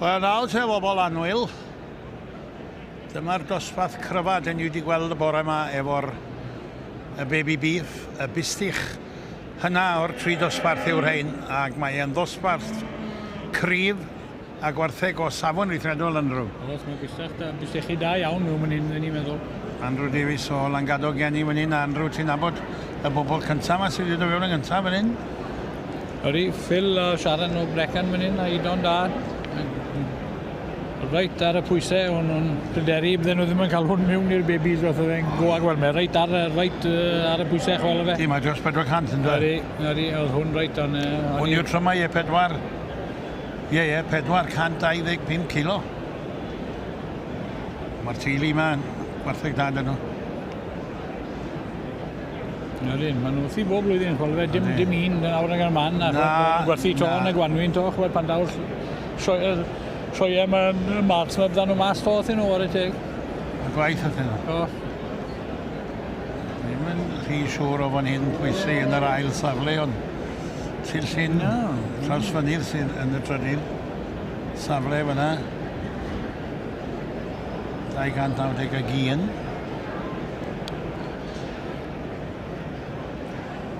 Wel, nawr te bobl anwyl, dyma'r dosbarth cryfa dyn ni wedi gweld y bore yma efo'r y baby beef, y bistich. Hynna o'r tri dosbarth yw'r rhain, ac mae e'n ddosbarth cryf, a gwartheg o safon weithredol Andrew. Oes, mae bysach da, bysechi da iawn nhw fan hyn, ni'n meddwl. Andrew Davies o Langado gen i fan hyn, a Andrew ti'n nabod y bobl cyntaf yma sydd wedi dod fewn yn gyntaf fan hyn? Ydy, Phil a Sharon o Brecon fan hyn, a Idon da. Reit ar y pwysau, o'n nhw'n pryderu bydden nhw ddim yn cael hwn mewn i'r bebis fath o fe'n go ag wel mae reit ar, reit ar y pwysau chwel o fe. Dim mae dros 400 yn dweud. Ydy, ydy, oedd hwn reit o'n... Hwn yw'r trymau e pedwar. Ie, ie, 425 kilo. Mae'r teulu yma yn gwartheg dda dyn nhw. Na dyn, maen nhw wrthi bob blwyddyn, chwal fe, dim, dim un yn awr nag ar man, a chwal, gwerthu to yn y gwanwyn to, chwal pan daw'r sioeau, sioeau mae'n mart, mae byddan nhw mas to wrthyn nhw, ar y teg. Y gwaith wrthyn nhw? Do. Ddim yn rhy siŵr o fan hyn pwysau yn yr ail safle, ond Sir Llyn, Trawsfynydd sydd yn y trydydd safle fyna. 291.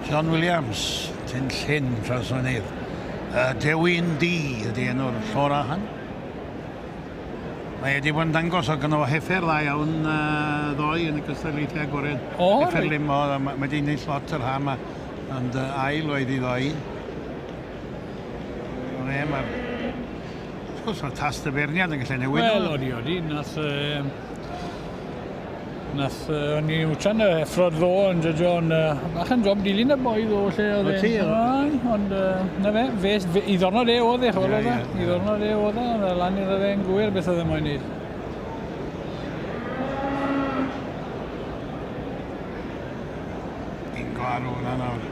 John Williams, Tyn Llyn, Trawsfynydd. Uh, Dewin D ydy enw'r llor ahan. Mae wedi bod yn dangos o gynnal heffer dda iawn uh, ddoe yn y cystadlaethau agored. O, Heffer reit. limo, mae wedi ennill lot yr ha yma. Yn dy ail oedd i ddau. Ond e, mae'r... Wrth gwrs, mae'r tast y ferniad yn gallu newid. Wel, odi, odi. Nath... Um, nath... Uh, o'n i wtan y effrod ddo yn dydio, ond uh, bach yn job dilyn y boi ddo, lle oedd e. Ti, Ond, uh, na fe, fe, fe, i ddornod e oedd e, chwbl oedd e. I ddornod e oedd e, oedd e lan iddo fe yn gwyr beth oedd e moyn neud. Fi'n gwaru hwnna nawr.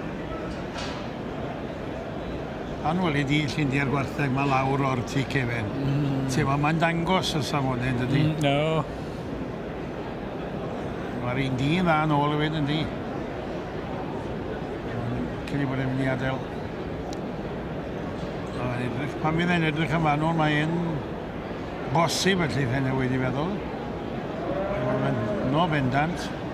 Pan weli di Llindia'r Gwartheg 'ma lawr o'r tŷ cefen... Mm. ...ti weld mae'n dangos y safone yndydi? Mm, do. Ma'r un dyn dda nôl efyd yndi? Cyn i bod e'n mynd i adel. A mae'n edrych, pan fydd e'n edrych yn fanwl mae e'n bosib y lleith e newid i feddwl. Mae'n no bendant.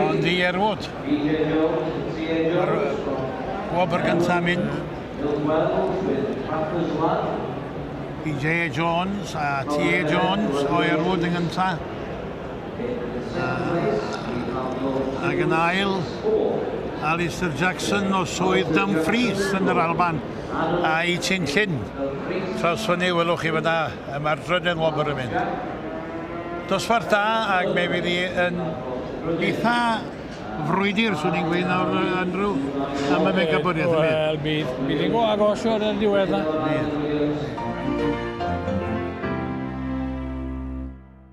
Ond i Erwood. Mae'r gwobr gyntaf mynd i J Jones a T Jones o Erwood yn gyntaf. Ac yn ail, Alistair Jackson o Swydd Dumfries yn yr Alban a'i Chin Chin. Trawsfynu, welwch chi fydda. Mae'r dryden wobr yn mynd. Dosbarth da ac mae wedi yn eitha frwydr, swn i'n gweud nawr, Andrew, am y mega bwriad. Wel, bydd, bydd yn go agos o'r diwedd na. Bydd.